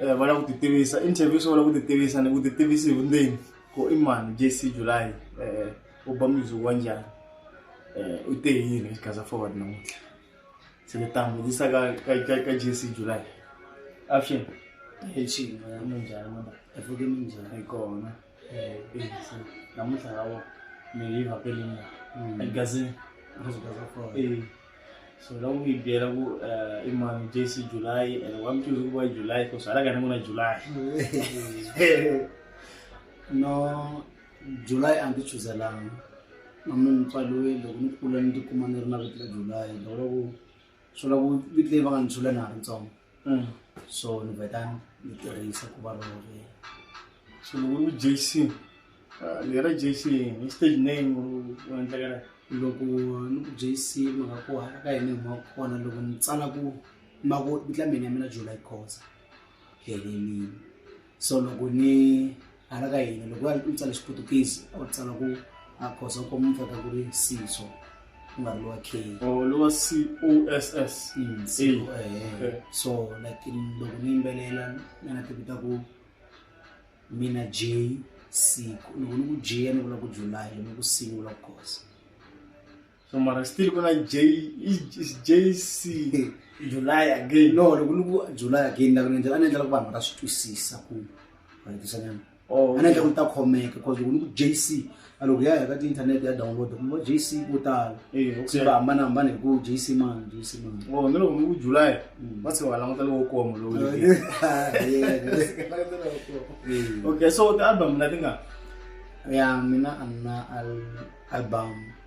eh, va lava ku ti tivisa interview swi va lava ku ti tivisa ni ku ti tivisi hi vundzeni ku i mani jc july eh, u ba music wa njhani eh, u te yini xikaza forward namuntlha se ni ta vutisa ka ka- ka- ka jc july avuxeni Hey, Chief, I'm Njani, man. African Ninja. hi kona namuntlha yawo mi hi vhakele mina mm. eligazini eh, so loko mi byela ku eh, i mani jc july and wa mi tivi ku va july ku swi halaka ni ku na july no july a ndzi chuzelanga na mi mutswaliwe loko ni kula ni tikuma ni ri na vito la july loko loko swi vula ku vito leyi va nga ni byula na ha ri ntsongo mm. so ni vheta ni tirhisa ku va role so loko ri jc ah, lera jc hi stage name wa endlekela loko ni ku jc mhaka ku hala ka hina hi mhaka kona loko ni tsala ku mako vitla mina ya mina jula yi khosa ya yinini so loko ni hala ka yini loko ya u tsala xiputukisi a wu tsala ku a khosa u kuma mfaka ku ri siso ku nga ri lowa k oh, lowa c o s s mm, eh. so like loko ni yimbelela na na tivita ku mina j siku loko ni ku j ni vula ku july ni ku singula ku khosa so mara still ku na j jc july again no loko ni ku july again na ku nendlela a ni endlela ku vanhu va ta swi twisisa ku rayitisanana oh, a ni endlela ku ni ta khomeka bcause loko ni ku jc a loko ya ya ka ti-internet ya download ku va jc vo tala eh, se va hambanahambana hi ku jc mani jc mani oh, ni loko ni ku july mm. va se va languta lowo koma lowo okay so ti-album leti nga ya mina a ni na album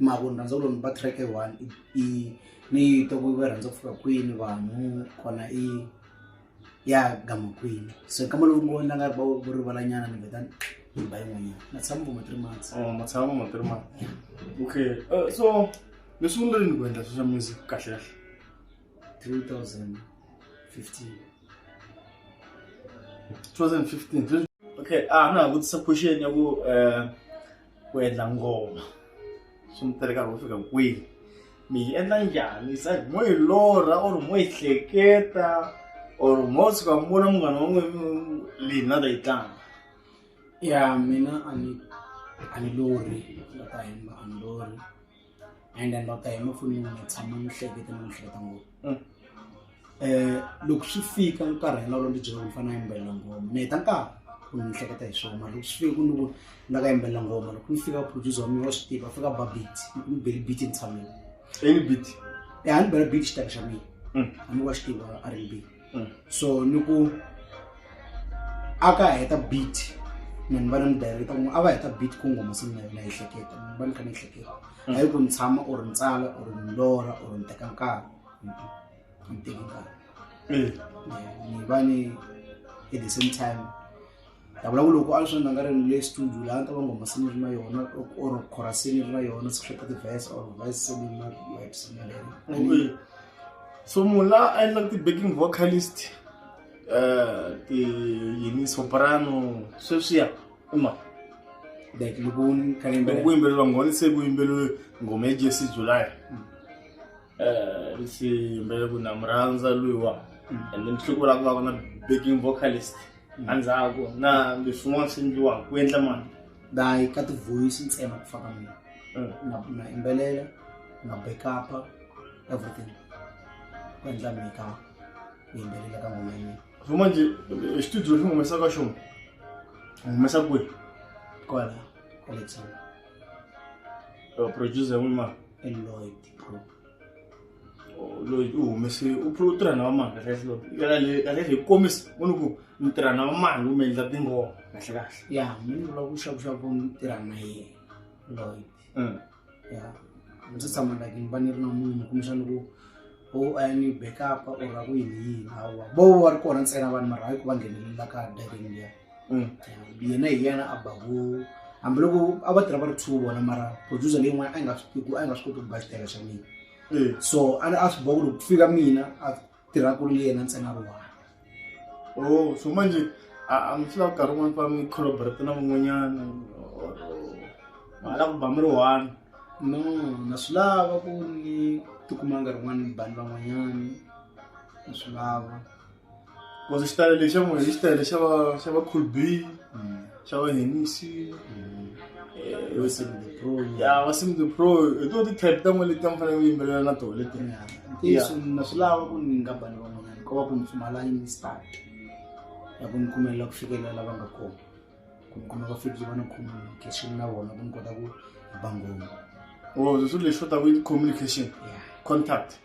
ma ku ni rhandza ku lomba track one i ni yi twa ku va rhandza ku fika kwini vanhu kona i ya gama kwini so hi kama lowu ngo na nga va vo rivalanyana ni vheta ni ba yin'wanyana na tshama vo ma three months Oh, ma tshama ma three months okay uh, so mi sungule rini ku endla social music kahle kahle 2015 2015 okay a na ha vutisa question ya ku um ku endla ngoma swi mi tele nkarhi wo fika kwihi mi yi endla njhani se mo yi lorha or mo yi hleketa or mo suka mi vona munghana wa n'wina leyi na ta yi tlanga ya mina a ni a ni lorhi la ta hemba a ni lorhi and then lota hi mapfunini na tshama ni hlekete ni hleketa ngopfu um loko swi fika nkarhi hina lolo byela ni fanele yimbelela ngoma ni heta nkarhi ku ni hleketa hi swona loko swi fika ku ni ku ni nga ka yimbelela ngoma loko ni fika producer wa mina wa swi tiva a fika babit ni beli beat ni tshamile any beat ya ni bela beat xitaka xa mina a ni wa xi tiva a ri beat mm. so ni ku a ka heta beat ni ni va ni mudireta ku a va heta beat ku ngoma se mina yona ehleketa ni va ni kha ni ehleketa mm. a yi ku ni tshama or ni tsala or ni lora or ni teka nkarhi ni teki nkarhi mm. ni va ni at the same time ta vula ku loko a swi nga nga ri ni le studio laha ta va ngoma se ni ri na yona or chorusini ni ri na yona se hleka ti-verse or verse se ni na words ni ri so munhu la a endlaka ti-backing vocalist um ti yini soprano sweswiya i mani like loko ni kha ni yimbelela ku yimbeleriwa nghoni se ku yimbeleriwe nghoma ya jesse july mm. Eh, lexi mbele ku na murhandza luyiwa and then siku ra ku va ku na baking vocalist endzhaku na leswi swin'wana swi endliwaka ku endla mali dayi ka ti-voice ntsena ku fana mina Mm. na na yimbelela na backup-a everything ku endla mika ku yimbelela ka ngoma ya mina so manje eh, studio lexi humesa ka xona humesa kwihi kwala kwale tsona Eh, producer ya n'wini mani eloyd loyi u humese u u tirha na vamani kahle kahle loyi kahle kahle hi komisa u ni ku ni tirha na vamani kumbe endla tingoma kahle kahle ya mi ni vula ku xakuxaku ni tirha na yena loyi mm. ya ndzi tshama like ni va ni ri na munhu kumbexana ku u a ni backup or a ku yini yini hawa vo va ri kona ntsena vanhu mara hayi ku va nghenelela ka diving liya mm. yena hi yena a baku hambiloko a va tirha va ri two vona mara producer leyi n'wana a nga swi a nga swi koti ku ba xitayela xa mina mm. so a a swi boha ku loko ku fika mina a tirha ku ri yena ntsena ri wana o oh, so manje a mi swi lava nkarhi wun'wana va mi collaborate na van'wanyana ma lava ku ba mi ri one no na swi lava ku ni tikumanga rin'wana ni bani van'wanyana na swi lava Because xitayele lexi ya n'wina i xitayele xa va xa va cool b xa va henisi ya va sim the pro hi to ti-type ta n'we leti a mi fanele ku yimbelela na tona leti ntiyiso na swi lava ku ni nga bani van'wanyana ko va ku ni pfumala yini start ya ku ni kumelela ku fikelela lava nga kona ku ni kuma va fikile va ni communication na vona ku ni kota ku ba ngoma o swilo leswi va ta ku i communication contact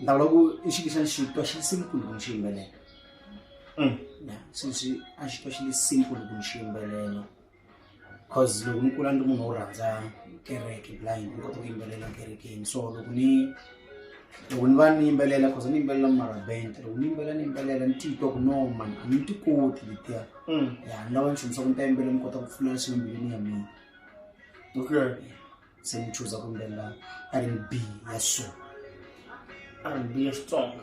ndza vula ku i xi xa xitwa xi simple ku ni xi yimbelela mm. since a xitwa xi li simple ku ni xi yimbelela cause loko ni kula ni ri munhu wo rhandza kereke blind ni kota ku yimbelela kerekeni so loko ni loko ni va ni yimbelela cause ni yimbelela marabent loko ni yimbelela ni yimbelela ni titwa ku no mani a ni ti koti letiya mm. ya ni lava ni xomisa ku ni ta yimbelela ni kota ku pfula swimbili ni ya mina okay yeah. se ni chuza ku yimbelela r n b ya so r n b ya xitsonga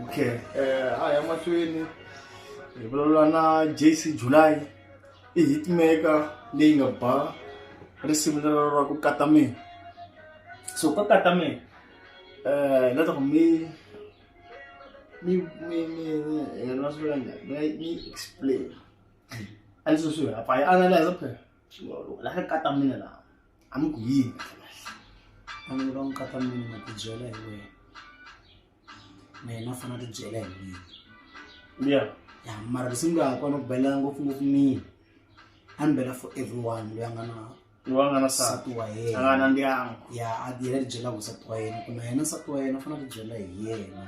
okay um a ya mahlweni hi vulavula na j c july i hitmaker leyi nga ba risimu lero ra ku kata mina so ka kata mina um eh, ni lava ku mi mi mi mi mi yena swi vula njhani mi nga mi explain a leswi swi vula pfa yi analyze phela xilolo la ka kata mina la a mi ku yini vanhu va n'wi kata mina ma ti byela hi wena na yena fana ti byela hi mina ya ya mara lexi mi nga ha kona ku belela ngopfungopfu mina a ni bela for everyone loyi a nga na loyi a nga na nsati wa yena a nga na ndyangu ya a yena ti byelaka nsati wa yena ku na yena nsati wa yena u fanele ku byela hi yena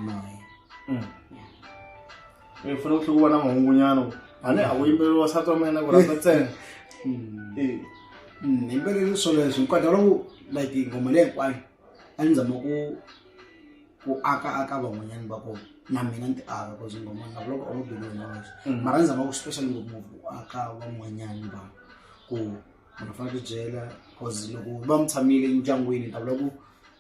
naye mm. u fanele ku tlhe ku va na mahungunyana a ni a ku yimbeleriwa nsati wa mina ku rhandza ntsena mm. eh. mm, yimbelele swoleswo nkwata loku like nghoma leyi hinkwayo a ni zama ku ku aka aka van'wanyani va kona na mina ni ti aka bcause ngoma ni loko a wu believe in us mm. mara ni zama ku special ngopfu ku aka van'wanyani va ku munhu fanele ku byela bcause loko va mi tshamile endyangwini ta vula ku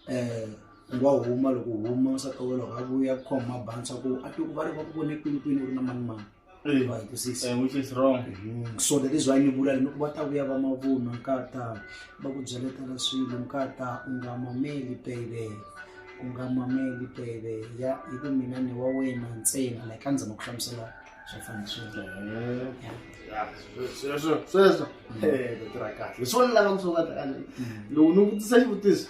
um nga huma loko huma u sa towela u nga vuya ku khoma mabansa ku a tiku va ri va ku vone kwini kwini u ri na mani mani eh, wa yi twisisa eh, which is wrong mm-hmm. so that is why ni vula ri ni ku va ta vuya va mavunwa nkata va ku byaletela swilo nkata u nga mameli bebe u nga mameli bebe ya hi ku mina ni wa wena ntsena like a ndzama ku hlamusela swo fana sweswo sweswo mm. eh, tirha kahle hi swona lava ku swo va ta loko ni vutisa xivutiso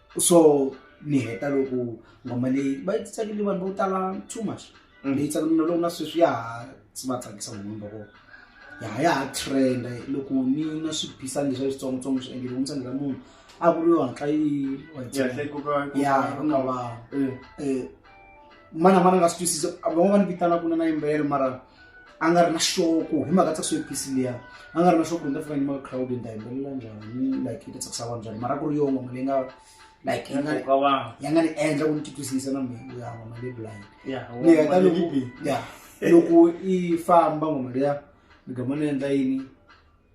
so ni heta loko ngoma leyi va yi tsakile vanhu vo tala too much mm. leyi tsakile na loko na sweswi ya ha si va tsakisa munhu loko ya ha ya ha trenda loko ni na swibisani leswi a switsongotsongo swi endlile ku ntsandela munhu a vuriwa ntla yi ya ku nga va eh. Eh, mana mana nga swi twisisa van'wana va ni vitana ku na na yimbelelo mara a nga ri na xoko hi mhaka tsakisa yepisi liya a nga ri na xoko ni ta fika nyima ka crowd ni ta yimbelela njhani like yi ta tsakisa vanhu njhani mara ku ri yongo mali yi nga like ya nga ni- ya nga ni endla ku ni titwisisa na mina ya ngoma leyi blind ni heta loko ya loko i famba ngoma liya ni gama ni endla yini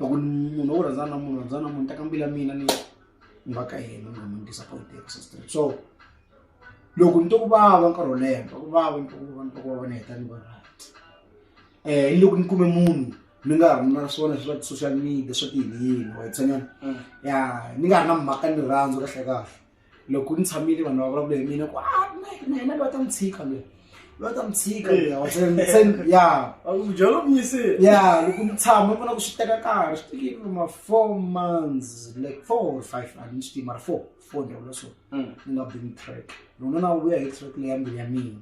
loko munhu wo rhandzana na munhu rhandzana na munhu teka mbilu ya mina ni ni va ka yena ni nga mi disappoint hi ku se straight so loko ni twa ku vava nkarhi wo leha ni twa ku vava ni twa ku vava ni twa ku vava ni heta ni va right um ni loko ni kume munhu ni nga ha ri na swona swa social media swa tiyiniyini wa yi tshanyana ya ni nga ha ri na mhaka ni rirhandzu kahle kahle loko ni tshamile vanhu va vulavula hi mina ku ah, na yena loyi a ta n'wi tshika loyi loyi a ta n'wi tshika eh. ya ya loko ni tshama vona ku swi teka nkarhi swi tekile ma four months like four or five a ni swi tivi mara four four ni vula so hmm. ni nga bini track lona na vuya hi track leya mbilu ya mina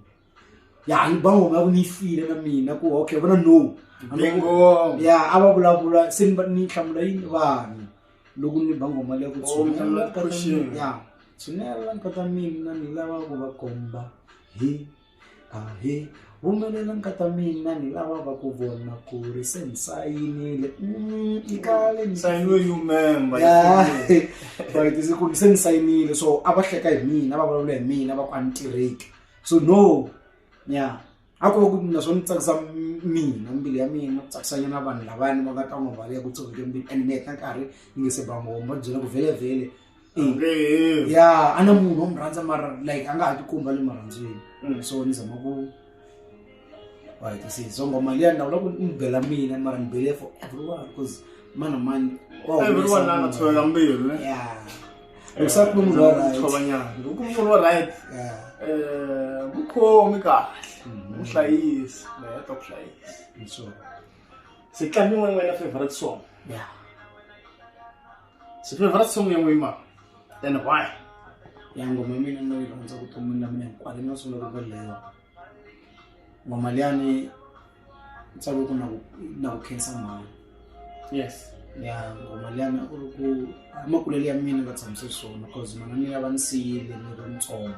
ya ni bango nga ni file na mina ku okay vona no bingo ya ava vulavula se ni ni hlamula yini vanhu loko ni bango mali ya ku oh, tshinela ka ya tshinela ka ta mina ni lava ku va komba hi a hi humelela ka ta mina ni lava va ku vona ku ri se ni sayinile mm, i kale ni sayinile you member ya right se ku se ni sayinile so a va hleka hi mina va vulavula hi mina va ku a ni tirheki so no ya a ko va ku mina swo ni tsakisa mina mbilu ya mina ku tsakisa nyana vanhu lavani va nga ta n'wi vale ya ku tshoveke mbilu and meta nkarhi ni nge se ba ngoma va byela ku vhelevhele ya a na munhu wo mu rhandza mara like a nga ha tikomba le marhandzweni so ni zama ku right see so ngoma liya na uloku nibhela mina mara nibhele for everyone because mana mani everyone la nga tsholela mbilu ne yeah except munhu lo right tshobanyana loko munhu lo right yeah eh mukhomi kahle muhlayisi la ya ta ku hlayisa so se tlambi n'wana wena favorite song yeah se favorite song ya n'we ma and why ya ngoma mina no yi rhandza ku tumula mina hikwale na sungula ku velewa mama liyani u tsale ku na ku na ku khensa mhani yes ya ngoma liyani u ri ku makulelo ya mina va tshamise swona cause mana mina va ni siyile ni ri ntsongo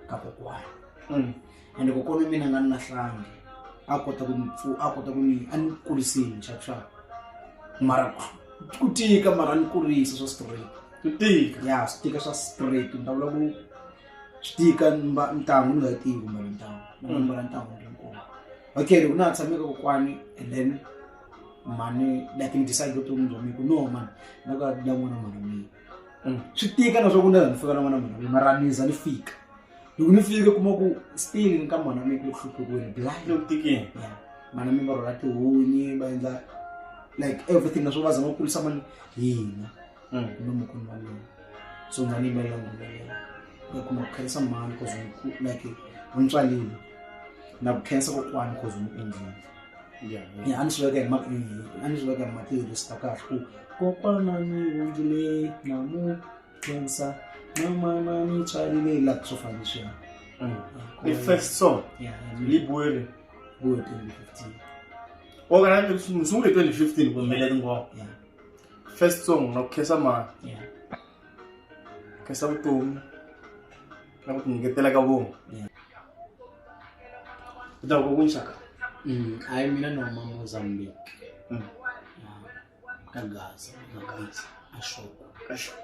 ka kokwana mm. ende kokwana mina nga ni lahlangi a kota ku ni pfu- a kota ku ni a ni kurisini nxaxaka mara ku- ku tika mara a ni kurisa swa straight ku tika ya swi tika swa straight ni ta vula ku xitika ntangu ni nga yi tivi kumbe ntangu ni nga mbala ntangu ni ri nkulu okay loko na ha tshame ka kokwani and then mhani like ni decide vutomi bya mina ku no mani na ka la n'wana mhani mina mm. swi tika na swa ku ni za ni fika na n'wana mhani mina mara ni za ni fika loko ni fike kuma ku still ni ka mhana mina ku le ku hluphekweni blind loko tikini mhana mina va rhola tihunyi va endla like everything naswo va zama ku kulisa mali hina unomkhulu wami lona so nganime yona leyo like unakukhelisa mani cause like umtswalile nakukhelisa kokwani cause umendlile ya a ni swi veka hi a ni swi veka hi matirhista kahle ku kokwana ni hundzile na mu khensa na mana ni tswalile la ku swo fana leswiya mm. the first song li buele buele 2015 o kana ni sungule 2015 ku mbele tingoma first song na ku khensa mani yeah. khensa vutomi na ku tinyiketela ka vona u ta ku kunxaka hayi mm, mina ni huma mozambique mm. ka gaza na gaza ashoko ashoko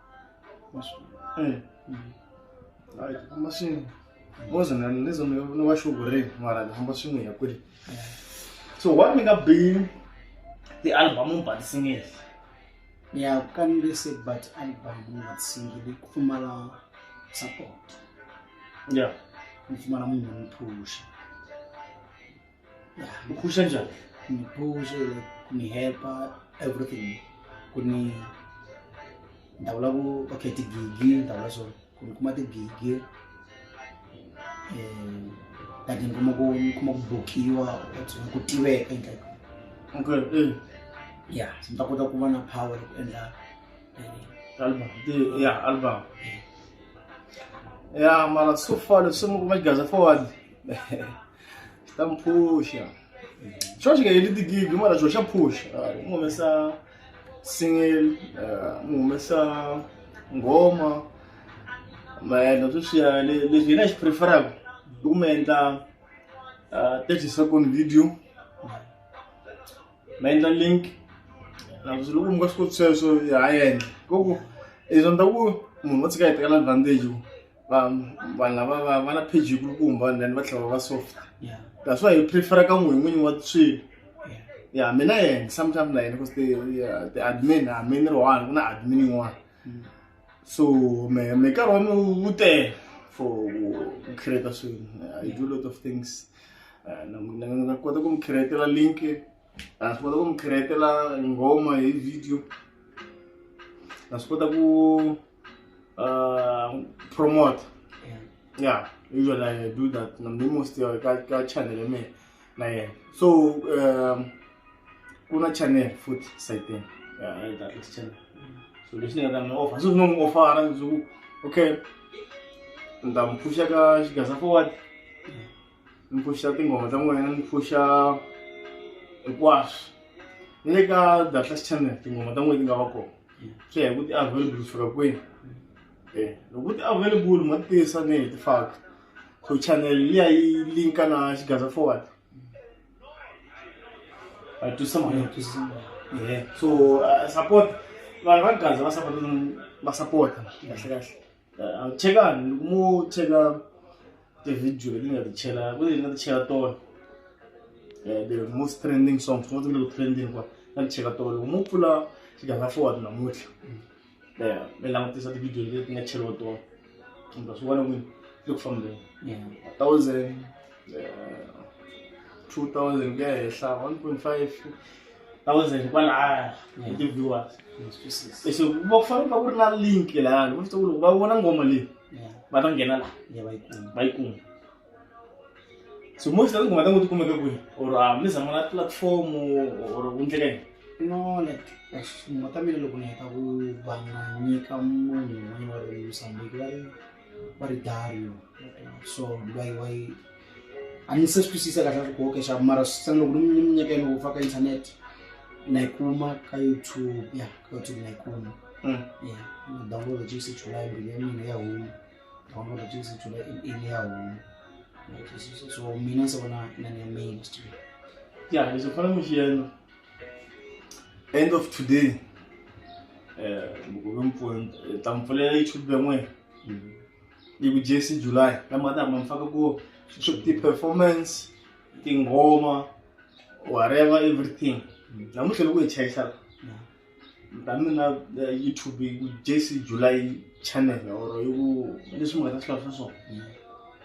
eh, eh. famba swin'we boza na nizo ni va xuvureni mara ni famba swin'we ya kweli so what mi nga bini ti-album mi ba ti-single ya kanile se ba ti-album mi nga ti-single ku pfumala support ya mi pfumala munhu ni phusha mi khulisa njhani mi khulisa ku ni helpa everything ku ni ndza vula ku va khe tigigi ndza vula so ku ni kuma tigigi um kati ni kuma ku ni kuma ku bokiwa tsona ku tiveka endla okay eh. ya ni ta kota ku va na power ku endla eh, album ya album eh. ya mara so far leswi mi kuma xigaza forward ta n'wi phuxa xo xi nga heli tigigi mara xo xa phuxa ah, n'wi humesa single ah, n'wi humesa nghoma maendla sweswiya leswi yena xi preferaka i ku mi endla ah, thirty second video ma endla link nakuthi loko mi nga swi koti sweswo hi ha endla koko izwa ni ta ku munhu wo tshika hi tekela advantage vanhu lava va va na page yi kulukumba and then va tlhela va va so that's why hi prefera ka n'wini n'winyi wa swilo ya mina yena sometime na yena because the admin a mi ni ri one ku na admin yin'wana mm. so me me nkarhi wa mi wu tele for ku create swilo i do a lot of things eh, na nga kota ku mi createla link na swi kota ku mi createla nghoma hi video na swi kota ku uh, promote yeah usually i do that na mi most ka ka channel ya mina na yena so um ku na channel futhi sayitini yeah right that is channel so leswi ni nga ta mi offer so swi no n'wi ofara leswaku okay ni ta mi pfuxa ka xigasa forward ni pfuxa tinghoma ta n'wina ni pfuxa hinkwaswo ni le ka datlas channel tinghoma ta n'wina ti nga va kona swi ya hi ku ti available fika kwini um loko ti available ma ti tisa ni hi ti faka so channel liya yi linka na xigaza forward a twisa mhaka ya twisa so support vanhu va gaza va support va support kahle kahle chekani loko mo cheka tivhidiyo leti nga ti chela ku leti nga ti cheka tona eh, the most trending song fo tile ku trending kwa nga ti cheka tona loko mo pfula xiganga forward namuntlha eh, mi langutisa tivhidiyo leti nga cheliwa tona kumbe swi vona n'wini le ku fambeni thousand 2000 ku ya henhla 1.5 thousand kwalaya hi ti-viewers so va ku fanele va ku ri na link lahayani va swi tiva ku loko va vona ngoma leyi va ta nghena laha va yi kuma so most of tinghoma ta ngo ti kumeka kwihi or a mi zama na platform or ku ndleka yini no like tinghoma ta mina loko ni heta ku va nga nyika munhu un'wana wa ri musambiki va ri varidario so vai vai a ni se swi twisisa kahle swi koke xaku mara swi tsana loko ni ni minyaka yini ufa ka internet na yi kuma ka youtube ya ka youtube na yi kuma mm. ya na download jisi july mbili ya mina ya huma download jisi july ini ya huma so mina se vona inani ya main stream ya leswi fana mi xi yena end of today um tampfulela youtube ya n'wina yi ku jc july la mati hamba mi faka ku ti-performance tinghoma whatever everything namuntlha loko hi chayisa la ta mina eh, youtube yi ku jc july channel or yi ku leswi mi nga ta swi lava swa swona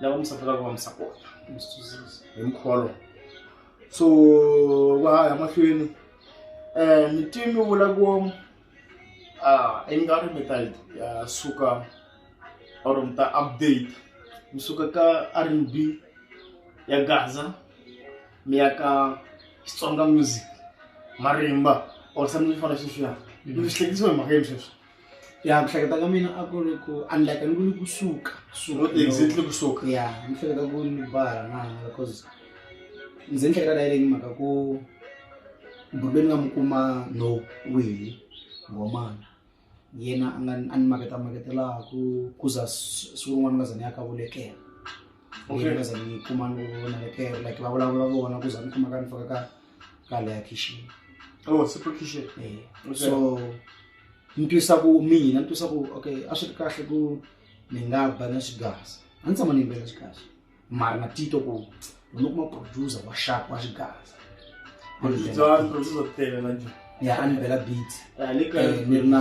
la va musafi lava va musakona hi mkholo so va ya mahlweni um mitimi vula ku um i nga ri mi ta ya suka or mi ta update mi suka ka r n b ya gaza mi ya ka xitsonga music marimba or something fana sweswiya mi swi hlekisiwa hi mhaka yini sweswi ya ku hleketa ka mina a ku ri ku unlike ni ku ni kusuka suka exactly kusuka ya ni hleketa ku ni bara na because ndzi ni hleketa leyi mhaka ku mbhurubeni nga mu kuma no wihi ngomana yena a nga a ni maketa maketelaku ku za siku rin'wana nga za ni ya ka vulekela yena nga za ni kuma ni vona lekela like va vulavula vona ku za ni kuma ka ni faka ka ka leya kitchen oh, eh, so ni twisa ku mina ni twisa ku okay a swi ri kahle ku ni nga ba na xigaza a ni tshama ni yimbela xigaza mara na tito ku ni kuma producer wa sharp wa xigaza ya a ni bela beat eh, ni ri na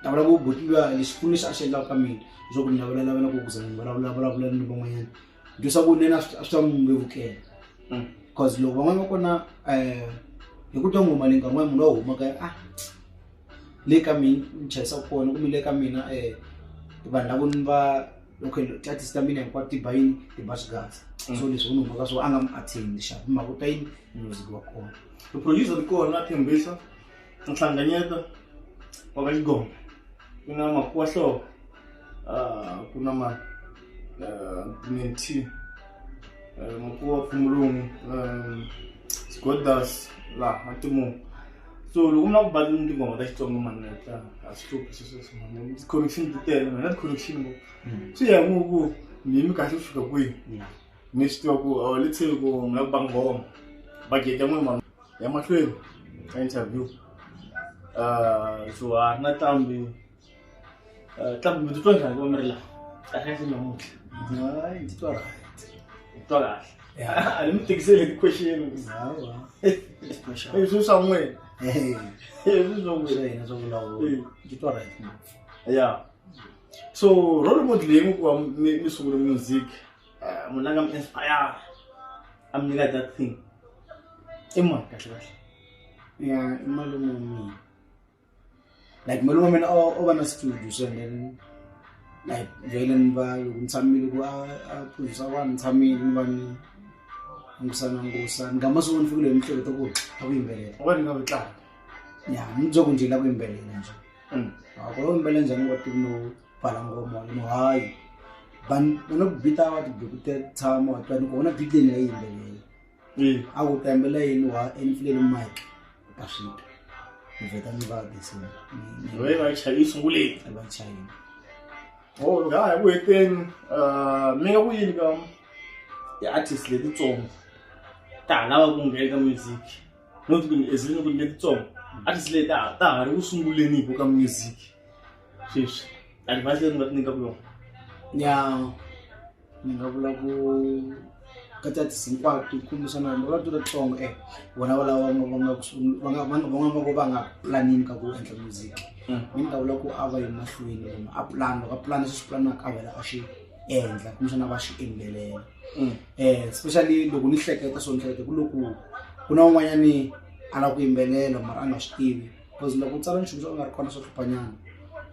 ta vulavula ku botiwa lexipfuno lexi a xi endlaka ka mina leswaku ni lavulalava na ku kuza vanhu vulavulavulavula ni van'wanyana leswaku ni yena swi ta n'wi vevukela because loko van'wana va kona um hi ku twa ngoma leyi nkarhi n'wana munhu wa humaka ah le ka mina ni chayisa kona kumbe le ka mina um vanhu lavo ni va okay tatisi ta mina hinkwato ti ba yini ti ba swigazi mm. so leswi u ni humaka swo a nga mi attend xavi mhaka u ta yini music wa kona producer ri kona a tshembisa nhlanganyeta wa ka xigombe ku na makuwa hloko ah, ku na ma ah, minti eh, makuwa pfumulungu sgodas laha matimungu so loko mi lava ku balini tinghoma ta xitsonga mani ta a swi hluphi swesweswomani ti-connection ti tele mina ti-connection ngo hmm. swi ya ku ku mimi kahle ku fika kwihi mi swi tiva ku let's say ku mi lava ku ba nghoma bageta n'we mani ya mahlweni ka interview uh, so a ri na tlambi uh, tlambi mi titwa njhani va mi ri laha kahlekahle namuntlha ni titwa right ni titwa kahle a ni mi tikiseli hi question swi swa n'wina swi swa n'wina swa vulavula titwa right ya so role model leyi mi ku va mi sungule music Ah, munhu la nga mi inspire a mi nyika that thing i mani kahle kahle ya i malume wa mina like malume wa mina o o va na studio so and then like vhele ni va loko ni tshamile ku a a produsa vanhu ni tshamile ni va ni ngusana ngusa ni nga masiku ni fikile hi mihleketo ku a ku yimbelela wa ni nga ku tlanga ya ni byo ku njila ku yimbelela nje Mm. a ku lo yimbelela njhani wa tivi no balangoma ino hayi vanhu vanobita vati bikute tshama watwani ku vona bit leyi nga yimbeleli eh. a ku ta yimbela yini wa enifileli mike u ta swi ta ni vheta ni va bisini loyi va chayi sunguleni va chayini o oh, nga ha ku heteni ah, mi nga ku yini ka ti-artist letitsongo ta ha lava ku nghena ka music no ti ku ni ezilini ku ni letitsongo artist leyi ta ha ri ku sunguleni hi ku ka music sweswi advise leyi ni nga ti nyika ku yona ya ni nga vula ku ka tsatsi hinkwato yi kombisa na vanhu vavatu latsongo e vona valava van'wamako va nga planini ka ku endla music mm. mi ni ta vula ku a va yi mahlweni munhu a pulani loko a pulani swi swi pulanaka a vela a xi endla kumbexana va xi endlelela um especially loko ni hleketa swo ni hleketa ku loku ku na un'wanyani a lava ku yimbelela mara a nga swi tivi because loko u tsala nchumu swo nga ri kona swo hluphanyana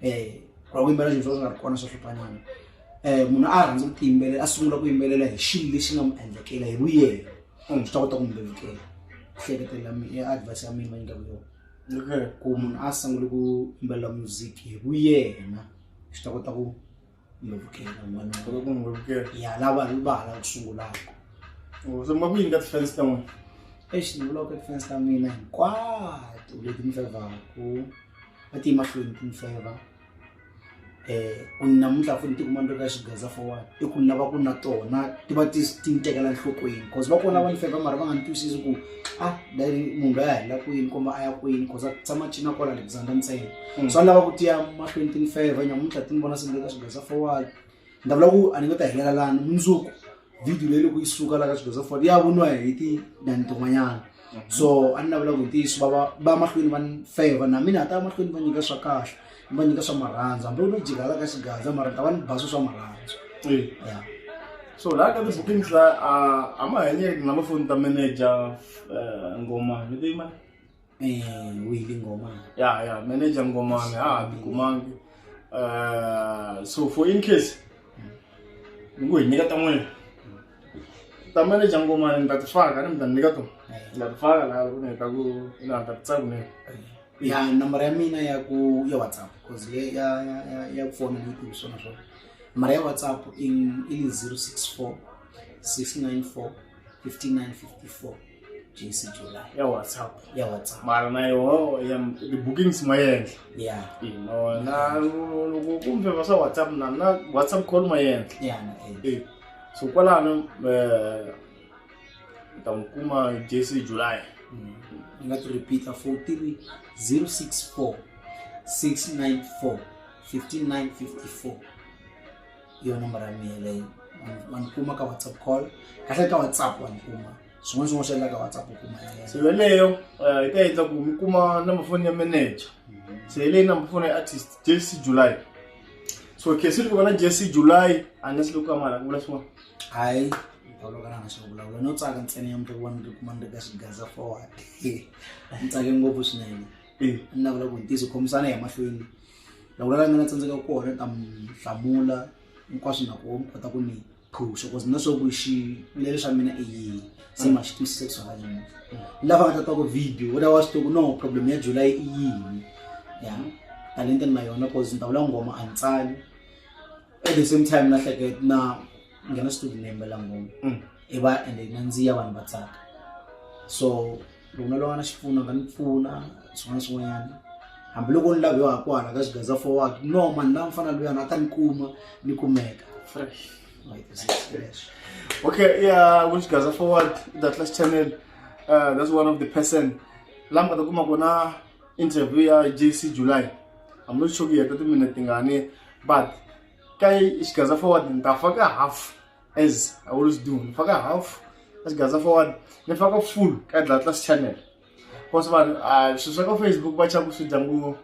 um ra ku yimbelela nchumu swo nga ri kona swo hluphanyana um munhu a rhandza ku tiyimbelela a sungula ku yimbelela hi xilo lexi nga mu endlekela hi vuyelo or swi ta kota ku mu lulukela hleketelela ya advice ya mina va nyika vuyona ku munhu a sungule ku yimbelela music hi vuyena swi ta kota ku ngilovukhela mani Solo ku n'wi vukela ya lava hi vala ku sungulaka Oh, se ma ku yini ka tifense ta n'wina exi ni vulaka tifense ta mina hinkwato leti ni fevhaku va ti emahlweni ti ni feva um ku namuntlha funi ti kuma ni ri ka xigaza forward i ku ni lava ku na tona ti va ti ti ni tekela nhlokweni cause va kona va ni feva mara va nga ni twisisi ku ah dari munhu loyi a hela kwini kumbe a ya kwini cause a tshama a cina kwala lebuzanga ntsena Mm. so a ni lava ku tiya mahlweni tini five nyamuntlha ti ni vona se ni le ka swigaza forward ni ta vula ku a ni nge ta helela lani mundzuku video leyi loko yi suka la ka swigaza forward ya voniwa hi tinani tin'wanyana so a ni navela ku hi ntiyiso va va va mahlweni va ni five na mina ta ya mahlweni va nyika swa kahle ni va nyika swa marhandza hambi no jika la ka xigaza mara ni ta va ni baso swa marhandza Eh. ya so laha ka ti-bookings la a- a ma hanyeki na lofoni ta manager eh, ngoma leti ma eh wili ngoma ya ya manager ngomane ha tikumangi uh, so for in case ni ku hi nyika ta n'wina ta manager ngomane ni ta ti faka ni mi ta ni nyika to ni ta ti faka laha loko ni heta ku na ni ta ti tsaku nini ya nambara ya mina ya ku ya whatsapp cause le ya ya ya ya ku fona ni tivi swona swona nambara ya whatsapp i i 064 694 5954 jesi jola ya whatsapp ya whatsapp mara na yoho ya ti-bookings ma yenhla ya Eh, ma wona loko ku mfeva swa whatsapp na na whatsapp call ma yenhla ya na eh. Eh, so kwalano um ta n'wi kuma jesi july Mm. ni nga ti repeat a four three zero six four six nine four fifty nine fifty four hi yona nomboro ya mina leyi wa ni kuma ka whatsapp call kahle ka whatsapp wa ni kuma swin'wana swin'wana swi endla ka whatsapp u kuma ya yena so yeleyo eh, yi ta endla ku mi kuma number phone ya manager se hi leyi number phone ya artist jc july so kesi loko vana jc july unless loko amala ku vula swin'wana hayi olokana nga swi vulavula no tsaka ntsena ya mutovo wani kuma ni ri ka xigaza forward ni tsake ngopfu swinene Eh, ni navula ku ntiso khomisana hi mahlweni loko la mina tsandzeka ku kona ta mi hlamula hinkwaswo na ku kota ku ni phusha cause na swaku xivilelo xa mina i yini se ma xi twisisa ku swa yini lava nga ta twa ku video u ta wa swi tivi ku no problem ya july i yini ya talenta ni na yona cause ni ta vula nghoma a ni tsali at the same time na hleketa na nghena studio ni yimbela nghoma i va ende nandziya vanhu va tsaka so loko na lava na xipfuno nga ni pfuna swin'wana swin'wanyana hambiloko ni laviwa ha kwala ka xigaza forward no mani la mfana luyana a ta ni kuma ni kumeka fresh okay yeah ku xigaza forward the class channel uh, that's one of the person la mi nga ta kuma kona interview ya jc july i'm not sure ku yeta timinete tingani but ka xigaza forward ni ta faka half as i always do ngifaka half asigasa forward ngifaka full ka dlatlas channel cause vanhu ah, swilo swa ka facebook va chava ku swi dya ngo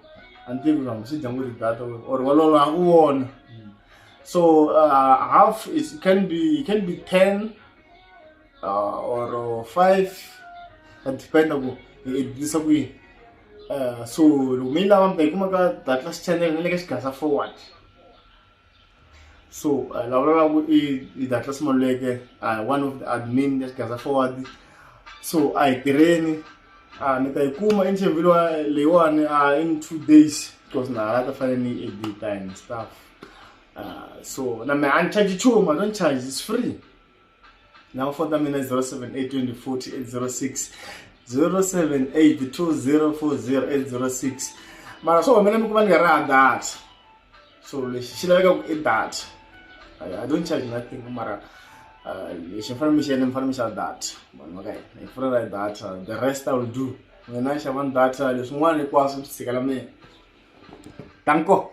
a ni tivi vanhu swi dya ngo data or walolo a ku wona so uh, half is it can be it can be 10 uh, or 5 ka dependa ku i dlisa ku yini uh, so loko mi yi lava mi ta yi kuma ka dlatlas channel ni le ka xigasa forward so uh, eh, lava lavaku i i datlas maluleke uh, one of the admin ya xigaza forward so a hi tirheni uh, ni ta yi kuma interview lewa leyiwani uh, in two days because na hala ta fanele ni yi edita and stuff uh, so na me a ni charge chuma don't charge is free Now phone number is 0782400806. 0782400806. Mara so mina mi kuma ni ra data. So lexi xi laveka ku i data. I, I don't charge nothing mara uh, lexi mi fanele mi xi endla mi fanele mi xava data. Vanhu va ka hina hi pfula ra data the rest I will do. Mina xavani data leswin'wana hinkwaswo swi tshikela mina. Danko.